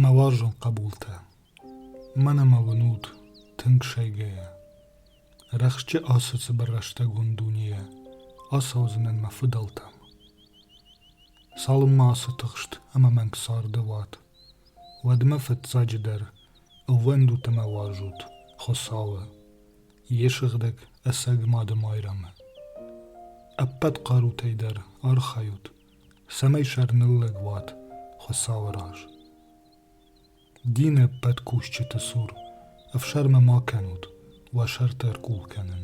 Мӕ уарзон хъӕбултӕ, мӕнӕ ма уын ут тынг сайгӕйӕ. Рӕхджы ацы цыбыр рӕстӕгон дунейӕ ацӕудзынӕн мӕ фыдӕлтӕм. Цалынмӕ ацы тыхст ӕмӕ мӕнг царды уат, Уӕдмӕ фыццаджыдӕр ӕууӕндут ӕмӕ уарзут Хуыцауы, йе сыгъдӕг ӕцӕг Мадымайрӕмы. Ӕппӕт хъарутӕй дӕр архайут, цӕмӕй сӕрныллӕг уат Хуыцауы раз. Дины ӕппӕт кусджыты цур ӕфсӕрмы ма кӕнут уӕ сӕрты ӕркъул кӕнын.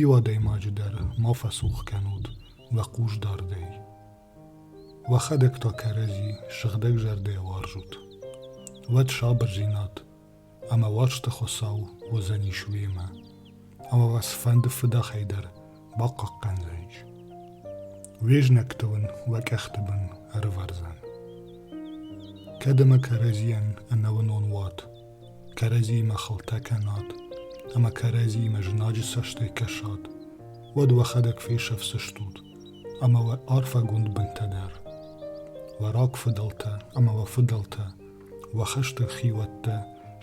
Иу адӕймаджы дӕр ма фӕцух кӕнут уӕ хъусдардӕй. Уӕхӕдӕг та кӕрӕдзи сыгъдӕг зӕрдӕ уарзут. Уӕд сабырдзинад ӕмӕ уарзты Хуыцау уыдзӕнис уемӕ, ӕмӕ уӕ цыфӕнды фыдӕхӕй дӕр бахъахъхъӕндзӕнис. Уе знӕгты уын уӕ къӕхты бын ӕрывӕрдзӕн. Кӕд ӕмӕ кӕрӕдзийӕн ӕнӕуынон уат, кӕрӕдзимӕ хылтӕ кӕнӕд ӕмӕ кӕрӕдзимӕ знаджы цӕстӕй кӕсӕд, уӕд уӕхӕдӕг фесӕфдзыстут ӕмӕ уӕ арфӕгонд бынтӕ дӕр. Уӕ рагфыдӕлтӕ ӕмӕ уӕ фыдӕлтӕ, уӕ хӕстӕг хиуӕттӕ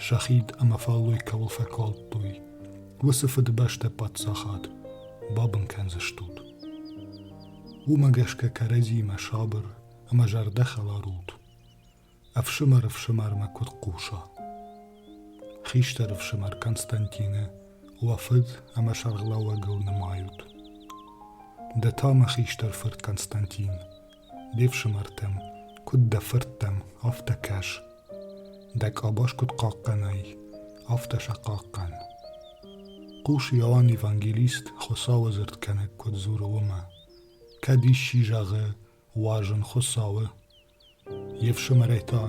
сӕ хид ӕмӕ фӕллой кӕуыл фӕкалдтой, уыцы фыдыбӕстӕ паддзахад бабын кӕндзыстут. Уымӕ гӕсгӕ кӕрӕдзимӕ сабыр ӕмӕ зӕрдӕхӕларут. ӕфсымӕр ӕфсымӕрмӕ куыд хъуса. Хистӕр ӕфсымӕр Константины уӕ фыд ӕмӕ сӕргълӕууӕгыл нымайут. Ды та, мӕ хистӕр фырт Константин, де фсымӕртӕм, куыд дӕ фырттӕм, афтӕ кӕс. Дӕ къабаз куыд хъахъхъӕнай, афтӕ сӕ хъахъхъӕн. Хъус Иоанн Евангелист Хуыцауы дзырдгӕнӕг куыд дзуры уымӕ. Кӕд исчи зӕгъы, уа зын Хуыцауы, Йе фсымӕрӕй та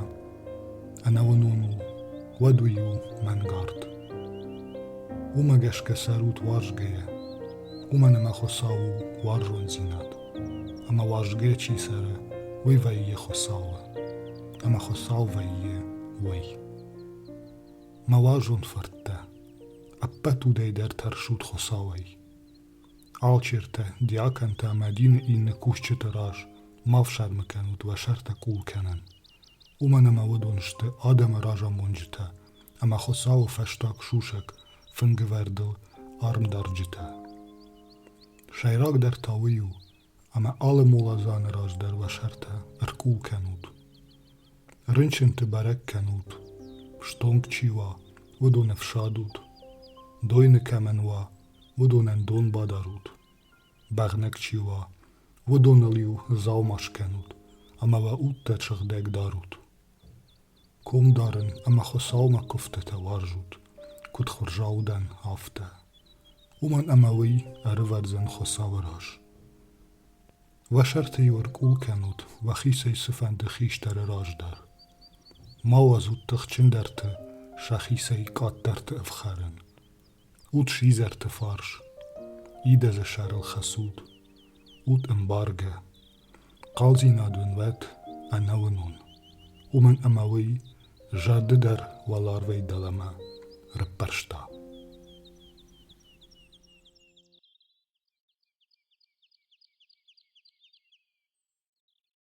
ӕнӕуынон у, уӕд уый у мӕнгард. Уымӕ гӕсгӕ цӕрут уарзгӕйӕ, уымӕн ӕмӕ Хуыцау у уарзондзинад, ӕмӕ уарзгӕ чи цӕры, уый вӕййы Хуыцауы, ӕмӕ Хуыцау вӕййы уый. Мӕ уарзон фырттӕ, ӕппӕт удӕй дӕр тӕрсут Хуыцауӕй. Алчертӕ, диаконтӕ ӕмӕ дины иннӕ кусджыты раз ма фсӕрмы кӕнут уӕ сӕртӕ къул кӕнын, уымӕн ӕмӕ уыдон сты адӕмы разамонджытӕ ӕмӕ Хуыцауы фӕстаг сусӕг фынгывӕрдыл армдарджытӕ. Сӕйрагдӕр та уый у, ӕмӕ алы моладзаны раз дӕр уӕ сӕртӕ ӕркъул кӕнут. Рынчынты бӕрӕг кӕнут, стонг чи уа, уыдоны фсад ут, дойны кӕмӕн уа, уыдонӕн дон бадарут, бӕгънӕг чи уа, уыдоныл-иу дзаума скӕнут ӕмӕ уӕ удтӕ сыгъдӕг дарут. Ком дарын ӕмӕ Хуыцаумӕ куывдтытӕ уарзут, куыд хурзау дӕн, афтӕ. Уымӕн ӕмӕ уый ӕрывӕрдзӕн Хуыцауы раз. Уӕ сӕрты-иу ӕркъул кӕнут уӕхицӕй цыфӕнды хистӕры раздӕр. Ма уадзут тыхджындӕрты сӕхицӕй къаддӕрты ӕфхӕрын. Ут сидзӕрты фарс, идӕдзы сӕрыл хӕцут, ут ӕмбаргӕ, хъалдзинад уын уӕт ӕнӕуынон, уымӕн ӕмӕ уый зӕрды дӕр уӕларвӕй дӕлӕмӕ раппӕрста.